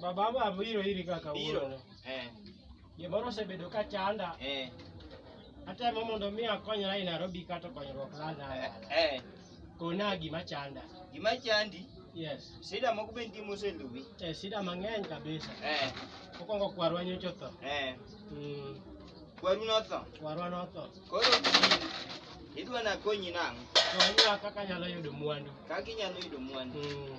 Baba ma biro iri ka Biro. kawuono. Eh. Gimoro osebedo ka chanda. Eh. Atemo mondo mi akonyra e Nairobi kato konyruok lala. Eh. Kona gima chanda. Gima chandi. Yes. Sida moko be nitie moseluwi. Eh, sida mang'eny kabisa. Eh. Mokwongo kwarwa nyocha otho. Eh. Mm. Kwaru notho. Kwarwa notho. Koro idwa nakonyi nang'o? Konya kaka anyalo yudo mwandu. Kaka inyalo yudo mwandu. Mm.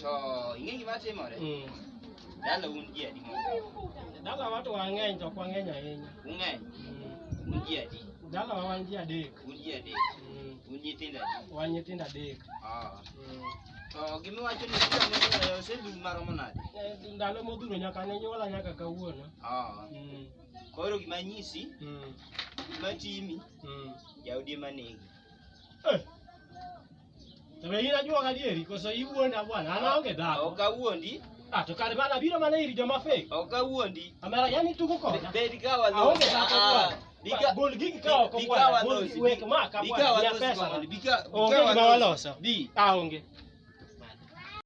To ing'e gima timore? Mm. Dala un ji adi moko? Dala watu wang'eny to ok wang'eny ahinya. Ung'eny? Mm. Un ji adi? Dala wa wan ji adek. Un ji adek? Mm. Un nyithindo adi? Wan nyithindo adek. Ah. Mm. To gima iwacho ni kila moro e osedum maromo nade? Eh, Ndalo modhuro nyaka ne nyuola nyaka kawuono. Ah. Mm. Koro gima nyisi, Mm. gima timi, Mm. jaodi ema negi. Eh, To be in ajuoga adieri koso iwuonda bwana? An aonge dhako. Ok awuondi. Ah, to kare bana biro mana ir joma fake. Ok awuondi. Amera yani tuko koda. Bed ka walo. Aonge dhako ah, bwana. Bika gol gigi ka oko bwana. Gol wek ma ka bwana. Bika walo. Bika bika walo. Bi. Aonge.